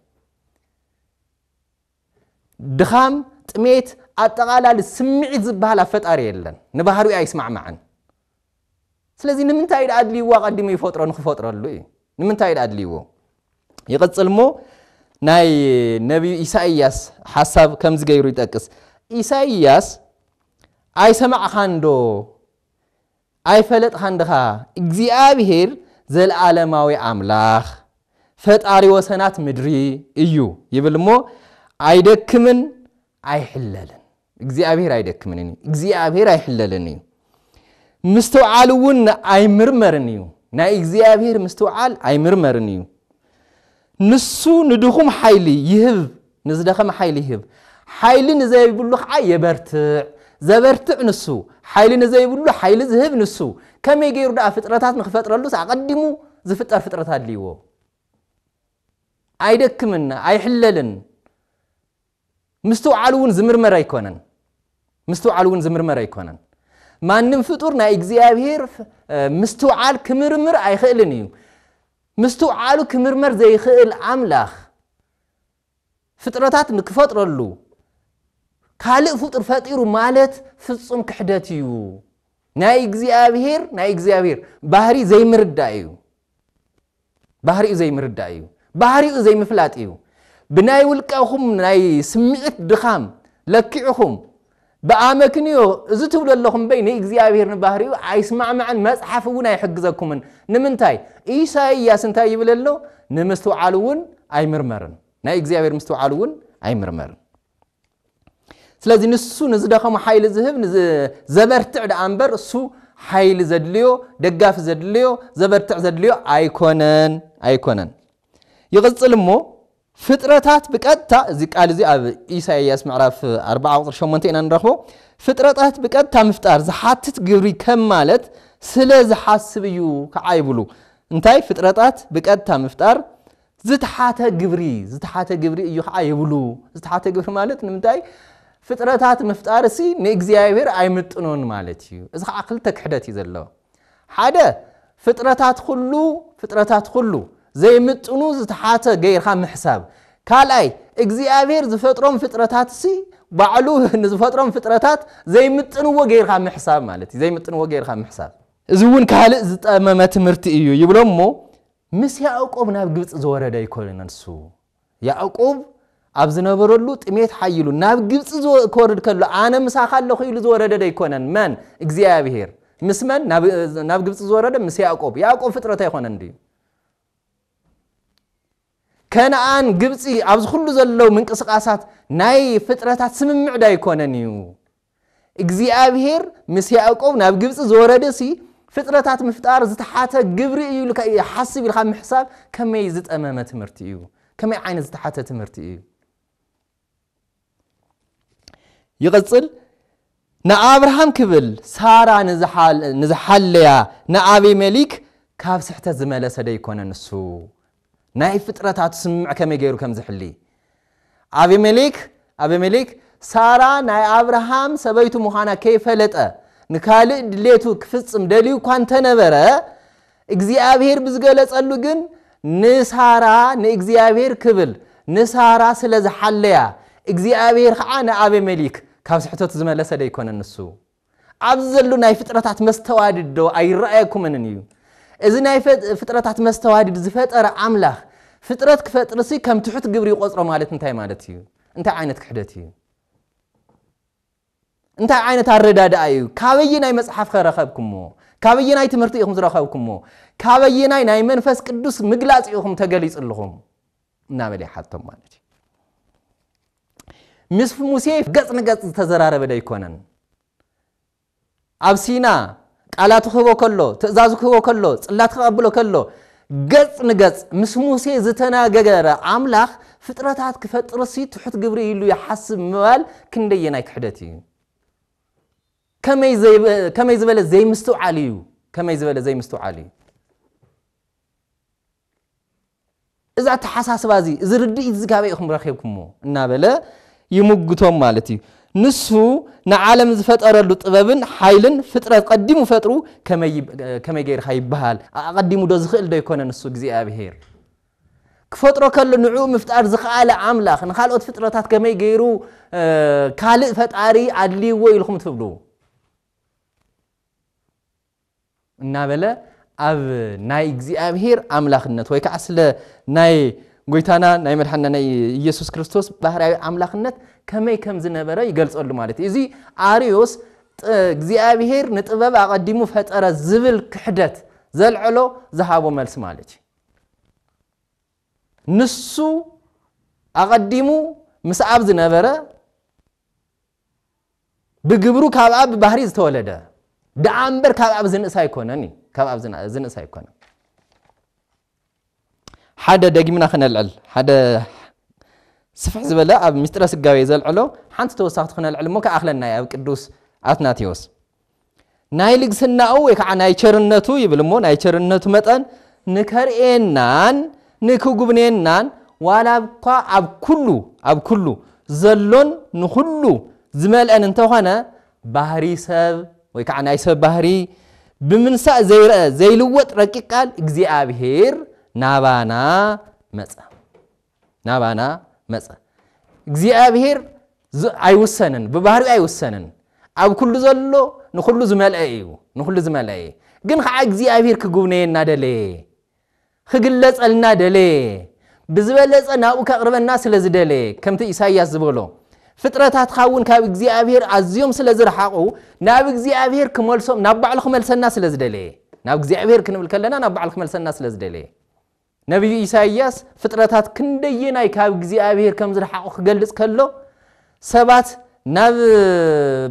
ድኻም፣ ጥሜት፣ ኣጠቓላሊ ስምዒት ዝበሃል ኣብ ፈጣሪ የለን። ንባህሪኡ ኣይስማዕማዕን። ስለዚ ንምንታይ እዩ ኣድልይዎ ኣቐዲሙ ይፈጥሮ ንክፈጥረሉ እዩ። ንምንታይ እዩ ኣድልይዎ? ይቕጽል እሞ ናይ ነቢዩ ኢሳይያስ ሓሳብ ከምዚ ገይሩ ይጠቅስ። ኢሳይያስ ኣይሰማዕኻን ዶ ኣይፈለጥኻን ድኻ? እግዚኣብሄር ዘለኣለማዊ ኣምላኽ ፈጣሪ ወሰናት ምድሪ እዩ ይብል እሞ ኣይደክምን ኣይሕለልን እግዚኣብሄር ኣይደክምን እዩ እግዚኣብሄር ኣይሕለልን እዩ ምስትውዓል እውን ኣይምርመርን እዩ ናይ እግዚኣብሄር ምስትውዓል ኣይምርመርን እዩ ንሱ ንድኹም ሓይሊ ይህብ፣ ንዝደኸመ ሓይሊ ይህብ፣ ሓይሊ ንዘይብሉ ከዓ የበርትዕ፣ ዘበርትዕ ንሱ፣ ሓይሊ ንዘይብሉ ሓይሊ ዝህብ ንሱ። ከመይ ገይሩ ደኣ ፍጥረታት ንክፈጥረሉስ ኣቐዲሙ ዝፍጠር ፍጥረት ኣድልይዎ። ኣይደክምን፣ ኣይሕለልን። ምስትውዓል እውን ዝምርመር ኣይኮነን ምስትውዓል እውን ዝምርመር ኣይኮነን ማንም ፍጡር ናይ እግዚኣብሄር ምስትውዓል ክምርምር ኣይኽእልን እዩ ምስትውዓሉ ክምርመር ዘይኽእል ኣምላኽ ፍጥረታት ንክፈጥረሉ ካልእ ፍጡር ፈጢሩ ማለት ፍጹም ክሕደት እዩ ናይ እግዚኣብሄር ናይ እግዚኣብሄር ባህሪ ዘይምርዳእ እዩ ባህሪኡ ዘይምርዳእ እዩ ባህሪኡ ዘይምፍላጥ እዩ ብናይ ውልቀኹም ናይ ስምዒት ድኻም ለኪዕኹም ብኣመክንዮ እዚ ትብሉ ኣለኹም እምበይ ንእግዚኣብሔር ንባህሪኡ ኣይስማዕማዕን መጽሓፍ እውን ኣይሕግዘኩምን ንምንታይ ኢሳይያስ እንታይ ይብል ኣሎ ንምስትውዓል እውን ኣይምርመርን ናይ እግዚኣብሔር ምስትውዓል እውን ኣይምርመርን ስለዚ ንሱ ንዝደኸሙ ሓይሊ ዝህብ ዘበርትዕ ደኣ እምበር እሱ ሓይሊ ዘድልዮ ደጋፊ ዘድልዮ ዘበርትዕ ዘድልዮ ኣይኮነን ኣይኮነን ይቕፅል እሞ ፍጥረታት ብቀጥታ እዚ ቃል እዚ ኣብ ኢሳይያስ ምዕራፍ 4 ቁፅሪ 8 ኢና ንረኽቦ ፍጥረታት ብቀጥታ ምፍጣር ዝሓትት ግብሪ ከም ማለት ስለ ዝሓስብ እዩ ከዓ ይብሉ እንታይ ፍጥረታት ብቀጥታ ምፍጣር ዝተሓተ ግብሪ ዝተሓተ ግብሪ እዩ ኸዓ ይብሉ። ዝተሓተ ግብሪ ማለት ንምንታይ ፍጥረታት ምፍጣርሲ ንእግዚኣብሔር ኣይምጥኖን ማለት እዩ። እዚ ኸዓ ክልተ ክሕደት እዩ ዘሎ። ሓደ ፍጥረታት ኩሉ ፍጥረታት ኩሉ ዘይምጥኑ ዝተሓተ ገይርካ ምሕሳብ። ካልኣይ እግዚኣብሔር ዝፈጥሮም ፍጥረታትሲ ባዕሉ ንዝፈጥሮም ፍጥረታት ዘይምጥንዎ ገይርካ ምሕሳብ ማለት እዩ። ዘይምጥንዎ ገይርካ ምሕሳብ እዚ እውን ካልእ ዝጠመመ ትምህርቲ እዩ ይብሎ እሞ ምስ ያእቆብ ናብ ግብጺ ዝወረደ ኣይኮነን ንሱ ያእቆብ ኣብ ዝነበረሉ ጥሜት ሓይሉ ናብ ግብጺ ክወርድ ከሎ ኣነ ምሳኻ ኣለኹ ኢሉ ዝወረደ ዶ ኣይኮነን መን እግዚኣብሄር ምስ መን ናብ ግብጺ ዝወረደ ምስ ያእቆብ ያእቆብ ፍጥረት ኣይኮነን ድዩ ከነኣን ግብጺ ኣብዚ ኩሉ ዘለው ምንቅስቃሳት ናይ ፍጥረታት ስምምዕ ዶ ኣይኮነን እዩ እግዚኣብሄር ምስ ያእቆብ ናብ ግብጺ ዝወረደሲ ፍጥረታት ምፍጣር ዝተሓተ ግብሪ እዩ ኢልካ ይሓስብ ኢልካ ምሕሳብ ከመይ ዝጠመመ ትምህርቲ እዩ ከመይ ዓይነት ዝተሓተ ትምህርቲ እዩ ይቕጽል ንኣብርሃም ክብል ሳራ ንዝሓለያ ንኣቤሜሊክ ካብ ስሕተት ዝመለሰ ደይኮነ ንሱ ናይ ፍጥረታቱ ስምምዕ ከመይ ገይሩ ከም ዝሕሊ ኣቤሜሌክ ኣቤሜሌክ ሳራ ናይ ኣብርሃም ሰበይቱ ምዃና ከይፈለጠ ንካልእ ድሌቱ ክፍጽም ደልዩ እኳ እንተነበረ እግዚኣብሄር ብዝገለጸሉ ግን ንሳራ ንእግዚኣብሄር ክብል ንሳራ ስለ ዝሓለያ እግዚኣብሄር ኸዓ ንኣቤሜሊክ ካብ ስሕተቱ ዝመለሰ ደይኮነን ንሱ ኣብዚ ዘሉ ናይ ፍጥረታት መስተዋድድ ዶ ኣይረኣየኩምንን እዩ? እዚ ናይ ፍጥረታት መስተዋድድ ዝፈጠረ ኣምላኽ ፍጥረት ክፈጥርሲ ከም ትሑት ግብሪ ይቆጽሮ ማለት እንታይ ማለት እዩ? እንታይ ዓይነት ክሕደት እዩ? እንታይ ዓይነት ኣረዳድኣ እዩ ካበየናይ መጽሓፍ ከረኸብኩሞ ካበየናይ ትምህርቲ ኢኹም ዝረኸብኩሞ ካበየናይ ናይ መንፈስ ቅዱስ ምግላጽ ኢኹም ተገሊጹ ኣለኹም እናበለ ይሓቶም ማለት እዩ። ምስ ሙሴ ገጽ ንገጽ ዝተዘራረበ ዶ ኣይኮነን? ኣብ ሲና ቃላቱ ክህቦ ከሎ ትእዛዙ ክህቦ ከሎ ጽላት ክቐብሎ ከሎ ገጽ ንገጽ ምስ ሙሴ ዝተናገረ ኣምላኽ ፍጥረታት ክፈጥር ሲ ትሑት ግብሪ ኢሉ ይሓስብ ምባል ክንደየናይ ክሕደት እዩ? ከመይ ዝበለ ዘይምስትውዓል እዩ? ከመይ ዝበለ ዘይምስትውዓል እዩ? እዚ ኣተሓሳስባ እዚ እዚ ርድኢት እዚ ካበይ ኢኹም ረኺብኩሞ እናበለ ይምጉቶም ማለት እዩ። ንሱ ንዓለም ዝፈጠረሉ ጥበብን ሓይልን ፍጥረት ቀዲሙ ፈጥሩ ከመይ ገይርካ ይበሃል ኣቐዲሙ ዶ ዝኽእል ዶ ኣይኮነን ንሱ እግዚኣብሄር ክፈጥሮ ከሎ ንዕኡ ምፍጣር ዝኸኣለ ኣምላኽ ንካልኦት ፍጥረታት ከመይ ገይሩ ካልእ ፈጣሪ ኣድልይዎ ኢልኩም ትብሉ እናበለ ኣብ ናይ እግዚኣብሔር ኣምላኽነት ወይ ከዓ ስለ ናይ ጎይታና ናይ መድሓንና ናይ ኢየሱስ ክርስቶስ ባህርያዊ ኣምላኽነት ከመይ ከም ዝነበረ ይገልጸሉ ማለት እዩ። እዚ ኣርዮስ እግዚኣብሔር ንጥበብ ኣቐዲሙ ፈጠረ ዝብል ክሕደት ዘልዐሎ ዝሃቦ መልሲ ማለት እዩ። ንሱ ኣቐዲሙ ምስ ኣብ ዝነበረ ብግብሩ ካብኣ ብባህሪ ዝተወለደ ደኣ እምበር ካብ ኣብ ዝንእስ ኣይኮነን እዩ ካብ ኣብ ዝንእስ ኣይኮነን ሓደ ደጊምና ክነልዕል ሓደ ስፍሕ ዝበለ ኣብ ምስጢረ ስጋዊ ዘልዕሎ ሓንቲ ተወሳኽቲ ክነልዕል እሞ ከኣኽለና ኣብ ቅዱስ ኣትናቴዎስ ናይ ልግስናኡ ወይ ከዓ ናይ ቸርነቱ ይብል እሞ ናይ ቸርነቱ መጠን ንከርእየናን ንክጉብንየናን ዋላ እኳ ኣብ ኩሉ ኣብ ኩሉ ዘሎን ንኹሉ ዝመልአን እንተኾነ ባህሪ ሰብ ወይ ከዓ ናይ ሰብ ባህሪ ብምንሳእ ዘይረአ ዘይልወጥ ረቂቅ ቃል እግዚኣብሔር ናባና መጸ። ናባና መጸ። እግዚኣብሄር ኣይውሰንን፣ ብባህሪኡ ኣይውሰንን። ኣብ ኩሉ ዘሎ ንኹሉ ዝመልአ እዩ፣ ንኹሉ ዝመልአ እዩ። ግን ከዓ እግዚኣብሄር ክጉብነየና ደለየ፣ ክግለጸልና ደለየ፣ ብዝበለጸ ናብኡ ከቕርበና ስለ ዝደለየ ከምቲ ኢሳይያስ ዝበሎ ፍጥረታትካ እውን ካብ እግዚኣብሄር ኣዝዮም ስለ ዝረሓቑ ናብ እግዚኣብሄር ክመልሶም ናብ ባዕሉ ክመልሰና ስለ ዝደለየ ናብ እግዚኣብሄር ክንብል ከለና ናብ ባዕሉ ክመልሰና ስለ ዝደለየ ነብዩ ኢሳይያስ ፍጥረታት ክንደየናይ ካብ እግዚኣብሄር ከም ዝረሓቑ ክገልጽ ከሎ፣ ሰባት ናብ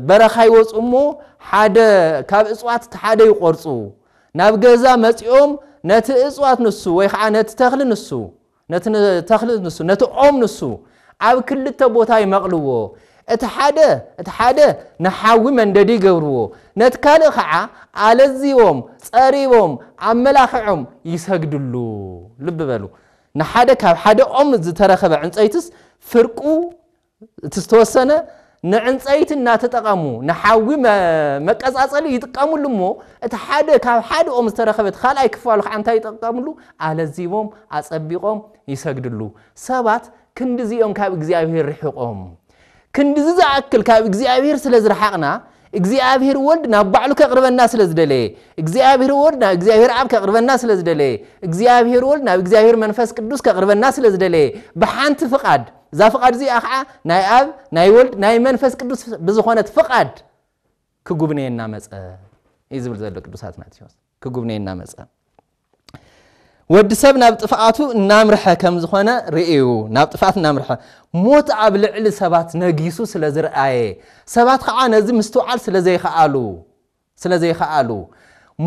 በረኻ ይወጹ እሞ ሓደ ካብ እጽዋት እቲ ሓደ ይቖርጹ፣ ናብ ገዛ መጺኦም ነቲ እጽዋት ንሱ ወይ ኸዓ ነቲ ተኽሊ ንሱ ነቲ ተኽሊ ንሱ ነቲ ኦም ንሱ ኣብ ክልተ ቦታ ይመቕልዎ፣ እቲ ሓደ እቲ ሓደ ንሓዊ መንደዲ ይገብርዎ፣ ነቲ ካልእ ኸዓ ኣለዚቦም፣ ጸሪቦም፣ ኣመላኺዖም ይሰግድሉ። ልቢ በሉ፣ ንሓደ ካብ ሓደ ኦም ዝተረኸበ ዕንጸይትስ ፍርቁ እቲ ዝተወሰነ ንዕንጸይቲ እናተጠቐሙ ንሓዊ መቀጻጸሊ ይጥቀምሉ እሞ እቲ ሓደ ካብ ሓደ ኦም ዝተረኸበ እቲ ካልኣይ ክፋሉ ከዓ እንታይ ይጠቀምሉ? ኣለዚቦም ኣጸቢቖም ይሰግድሉ። ሰባት ክንድዚ እዮም ካብ እግዚኣብሔር ርሒቖም። ክንድዚ ዝኣክል ካብ እግዚኣብሔር ስለ ዝረሓቕና እግዚኣብሔር ወልድ ናብ ባዕሉ ከቕርበና ስለ ዝደለየ እግዚኣብሔር ወልድ ናብ እግዚኣብሔር ኣብ ከቕርበና ስለ ዝደለየ እግዚኣብሔር ወልድ ናብ እግዚኣብሔር መንፈስ ቅዱስ ከቕርበና ስለ ዝደለየ ብሓንቲ ፍቓድ እዛ ፍቓድ እዚኣ ኸዓ ናይ ኣብ ናይ ወልድ ናይ መንፈስ ቅዱስ ብዝኾነት ፍቓድ ክጉብነየና መፀ እዩ ዝብል ዘሎ ቅዱስ ኣትናቴዎስ ክጉብነየና መፀ ወዲ ሰብ ናብ ጥፍኣቱ እናምርሐ ከም ዝኾነ ርእዩ ናብ ጥፍኣት እናምርሐ ሞት ኣብ ልዕሊ ሰባት ነጊሱ ስለ ዝርኣየ ሰባት ከዓ ነዚ ምስትውዓል ስለ ዘይከኣሉ ስለ ዘይኸኣሉ፣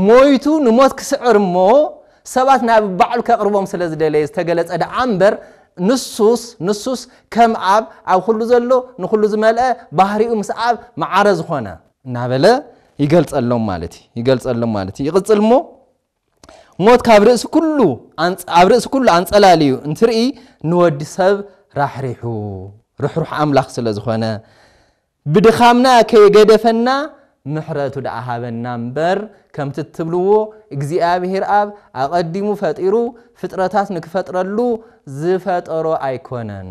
ሞይቱ ንሞት ክስዕር እሞ ሰባት ናብ ባዕሉ ከቕርቦም ስለ ዝደለየ ዝተገለጸ ደኣ እምበር፣ ንሱስ ንሱስ ከም ኣብ ኣብ ኹሉ ዘሎ ንኹሉ ዝመልአ ባህሪኡ ምስ ኣብ መዓረ ዝኾነ። እናበለ ይገልጸሎም ማለት እዩ ይገልጸሎም ማለት እዩ። ይቕጽል እሞ ሞት ካብ ርእሲ ኩሉ ኣንጽ ኣብ ርእሲ ኩሉ ኣንጸላልዩ እንትርኢ ንወዲ ሰብ ራሕሪሑ ርሕሩሕ ኣምላኽ ስለ ዝኾነ ብድኻምና ከይገደፈና ምሕረቱ ደኣ ሃበና እምበር ከምቲ እትብልዎ እግዚኣብሄር ኣብ ኣቐዲሙ ፈጢሩ ፍጥረታት ንክፈጥረሉ ዝፈጠሮ ኣይኮነን።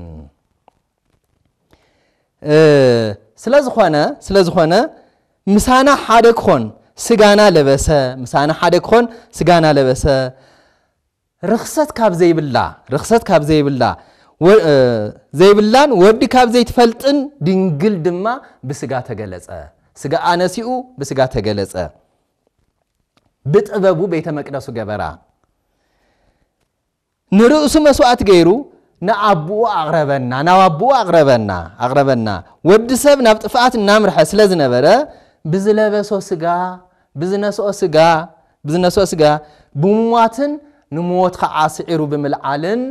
ስለዝኾነ ስለዝኾነ ምሳና ሓደ ክኾን ስጋና ለበሰ ምሳና ሓደ ክኾን ስጋና ለበሰ ርኽሰት ካብ ዘይብላ ርኽሰት ካብ ዘይብላ ዘይብላን ወዲ ካብ ዘይትፈልጥን ድንግል ድማ ብስጋ ተገለጸ ስጋኣ ነሲኡ ብስጋ ተገለጸ ብጥበቡ ቤተ መቅደሱ ገበራ ንርእሱ መስዋዕት ገይሩ ንኣቦኡ ኣቕረበና ናብ ኣቦኡ ኣቕረበና ኣቕረበና ወዲ ሰብ ናብ ጥፍኣት እናምርሐ ስለ ዝነበረ ብዝለበሶ ስጋ ብዝነስኦ ስጋ፣ ብዝነስኦ ስጋ ብምሟትን ንሞት ኸዓ ስዒሩ ብምልዓልን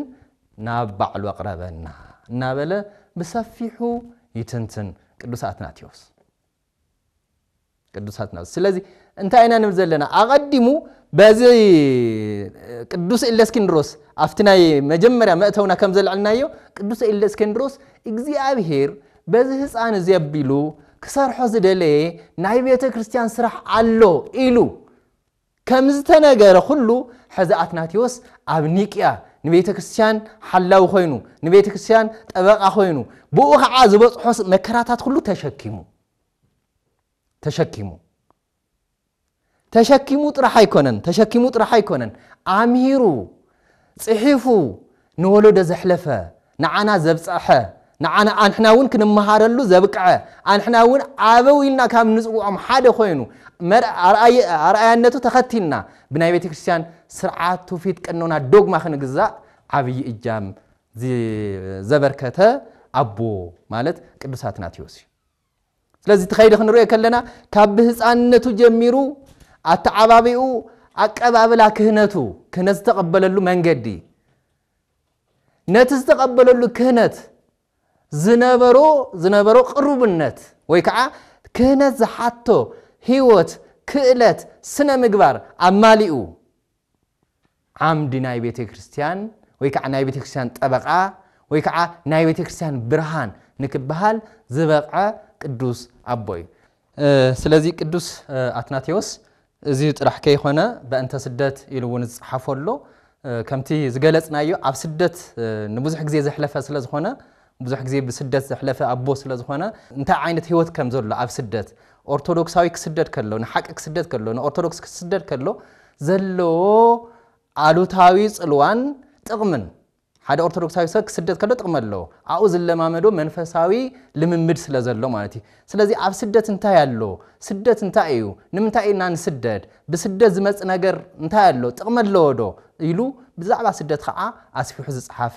ናብ ባዕሉ ኣቕረበና እናበለ ብሰፊሑ ይትንትን ቅዱስ ኣትናቴዎስ። ቅዱስ ኣትናቴዎስ ስለዚ እንታይ ኢና ንብል ዘለና ኣቐዲሙ በዚ ቅዱስ ኤለስኪንድሮስ ኣብቲ ናይ መጀመርያ መእተውና ከም ዘልዕልናዮ ቅዱስ ኤለስኪንድሮስ እግዚኣብሄር በዚ ህጻን እዚ ኣቢሉ ክሰርሖ ዝደለየ ናይ ቤተ ክርስቲያን ስራሕ ኣሎ ኢሉ ከም ዝተነገረ ኩሉ ሕዚ ኣትናቴዎስ ኣብ ኒቅያ ንቤተ ክርስቲያን ሓላዊ ኮይኑ ንቤተ ክርስቲያን ጠበቃ ኮይኑ ብኡ ከዓ ዝበጽሖ መከራታት ኩሉ ተሸኪሙ ተሸኪሙ ተሸኪሙ ጥራሕ ኣይኮነን ተሸኪሙ ጥራሕ ኣይኮነን ኣምሂሩ ጽሒፉ ንወለዶ ዘሕለፈ ንዓና ዘብጽሐ ንዓና ኣንሕና እውን ክንመሃረሉ ዘብቅዐ ኣንሕና እውን ኣበው ኢልና ካብ ንጽውዖም ሓደ ኮይኑ ኣርኣያነቱ ተኸቲልና ብናይ ቤተ ክርስቲያን ስርዓት ትውፊት ቀኖና ዶግማ ክንግዛእ ዓብዪ እጃም ዘበርከተ ኣቦ ማለት ቅዱስ ኣትናቴዎስ እዩ። ስለዚ እቲ ከይዲ ክንሪኦ ከለና ካብ ብህፃንነቱ ጀሚሩ ኣተዓባቢኡ ኣቀባብላ ክህነቱ ክህነት ዝተቐበለሉ መንገዲ ነቲ ዝተቐበለሉ ክህነት ዝነበሮ ዝነበሮ ቅሩብነት ወይ ከዓ ክህነት ዝሓቶ ህይወት ክእለት ስነ ምግባር ኣማሊኡ ዓምዲ ናይ ቤተ ክርስቲያን ወይ ከዓ ናይ ቤተ ክርስቲያን ጠበቃ ወይ ከዓ ናይ ቤተ ክርስቲያን ብርሃን ንክበሃል ዝበቕዐ ቅዱስ ኣቦ እዩ። ስለዚ ቅዱስ ኣትናቴዎስ እዚ ጥራሕ ከይኮነ በእንተ ስደት ኢሉ እውን ዝፀሓፈሉ ከምቲ ዝገለፅናዮ ኣብ ስደት ንብዙሕ ግዜ ዘሕለፈ ስለዝኾነ ብዙሕ ግዜ ብስደት ዘሕለፈ ኣቦ ስለ ዝኾነ እንታይ ዓይነት ህይወት ከም ዘሎ ኣብ ስደት ኦርቶዶክሳዊ ክስደድ ከሎ ንሓቂ ክስደድ ከሎ ንኦርቶዶክስ ክስደድ ከሎ ዘለዎ ኣሉታዊ ጽልዋን ጥቕምን ሓደ ኦርቶዶክሳዊ ሰብ ክስደድ ከሎ ጥቕሚ ኣለዎ ኣብኡ ዝለማመዶ መንፈሳዊ ልምምድ ስለ ዘሎ ማለት እዩ ስለዚ ኣብ ስደት እንታይ ኣሎ? ስደት እንታይ ኢዩ? ንምንታይ ኢና ንስደድ? ብስደት ዝመጽእ ነገር እንታይ ኣሎ? ጥቕሚ ኣለዎዶ? ኢሉ ብዛዕባ ስደት ኸዓ ኣስፊሑ ዝጸሓፈ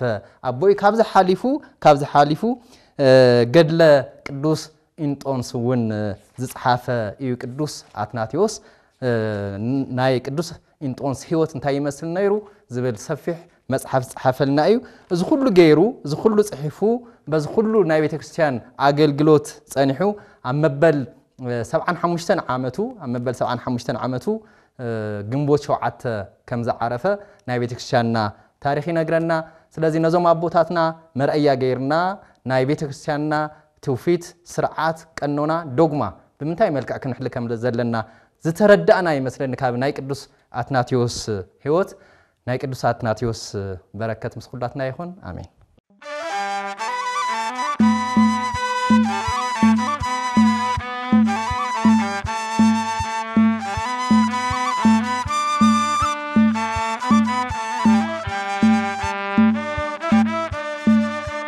ኣቦ ኢዩ። ካብዚ ሓሊፉ ካብዚ ሓሊፉ ገድለ ቅዱስ ኢንጦንስ እውን ዝጸሓፈ ኢዩ ቅዱስ ኣትናቴዎስ። ናይ ቅዱስ ኢንጦንስ ህይወት እንታይ ይመስል ነይሩ ዝብል ሰፊሕ መጽሓፍ ዝጸሓፈልና እዩ። እዚ ኩሉ ገይሩ እዚ ኩሉ ጽሒፉ በዚ ኩሉ ናይ ቤተ ክርስቲያን ኣገልግሎት ጸኒሑ ኣብ መበል ሰብዓን ሓሙሽተን ዓመቱ ኣብ መበል ሰብዓን ሓሙሽተን ዓመቱ ግንቦት ሸውዓተ ከም ዝዓረፈ ናይ ቤተ ክርስቲያንና ታሪኽ ይነግረና። ስለዚ ነዞም ኣቦታትና መርኣያ ገይርና ናይ ቤተ ክርስቲያንና ትውፊት፣ ስርዓት፣ ቀኖና፣ ዶግማ ብምንታይ መልክዕ ክንሕሊ ከም ዘለና ዝተረዳእና ይመስለኒ ካብ ናይ ቅዱስ ኣትናቴዎስ ሕይወት ናይ ቅዱስ ኣትናቴዎስ በረከት ምስ ኩላትና ይኹን ኣሜን።